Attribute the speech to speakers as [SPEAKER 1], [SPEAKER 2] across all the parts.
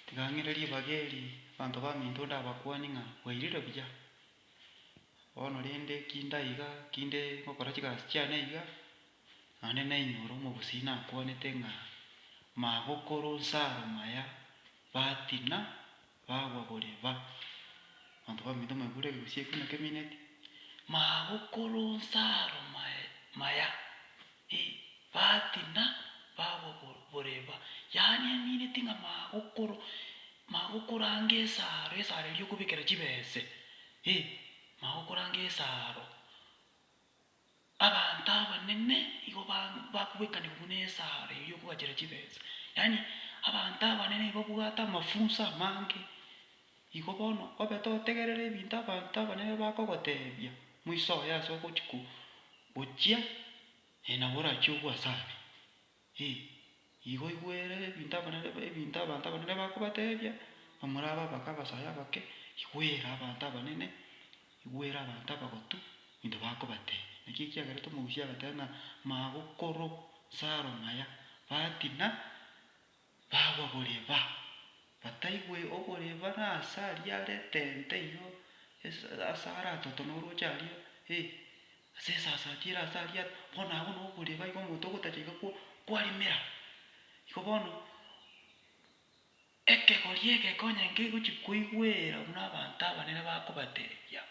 [SPEAKER 1] Tigang'ira ribaga eri abanto baminto ndabakuani ng'a bwairire buya. Bono rende kinde iga, kinde ngokora chigasi chiane iga, naende nainyore omobusii nakuanete ng'a, Magokoro nsaro maya, batina, bagwa bore ba. Abanto baminto mwaigure egegusii ekio buna kemineti, Magokoro nsaro maya. Ebati na bagwa bor, boreba, yaani emineti ng'a magokoro, magokoranga esaaro, esaaro eria okobekera chibese, eh, magokoranga esaaro. Abanto abanene igo ba bakobekanigwa buna esaaro eria okogachera chibese, yaani abanto abanene nigo babwate amafunso amange. Igo bono, obe totegerere ebinto abanto abanene bakogoteebia, moisoe ase ogochia gochia, ee, nabo orachie ogwe ase aria. Ee, igo igwere ebinto abanene, ebinto abanto abanene bakobateebia, na morabe abake abasae abake, igwere abanto abanene, igwere abanto abagotu ebinto bakobateebia. Naki ekiagerete omogusia agateba ng'a magokoro 'nsaro maya, batina. Bagwa boreba, bataigwe oboreba nase aria are etente eyio, ase are atoto na orooche aria, ee, ase esasaati ere ase aria are, bono agwo noboreba igo omonto ogotacha iga kwa, kwarimera. Igo bono, ekegori egeke onye nkegochi koigwera buna abanto abanene bakobateebia,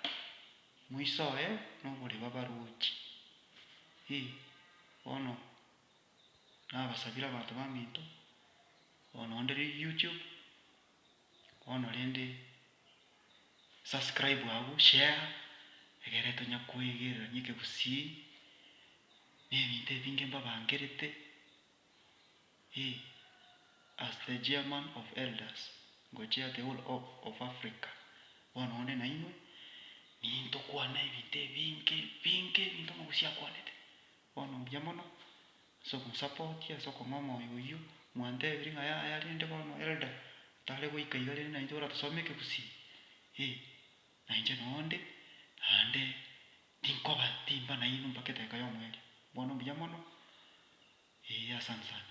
[SPEAKER 1] moisoe noboreba barooche, ee, bono nabasabire abanto baminto, bono onde riria YouTube, bono rende subscribe abwo, share, egere tonya koegererania ekegusii, na ebinto ebinge mbabangerete, eh, as the chairman of elders, ngo chair the whole of of Africa, bono onde nainwe, nintokwana ebinto ebinge ebinge ebinto omogusi akwanete. Bono mbuya mono, ase ogosapotia, ase okong'aa omoyo oyio, mwantebirie ng'a yaya rende bono Elder tare goika iga rende naintwe baratosome ekegusii? Ee, nainche noonde, naende tinkoba timba nainwe mpaka edaika y'omoerio. Bono mbuya mono. Ee, asante sana.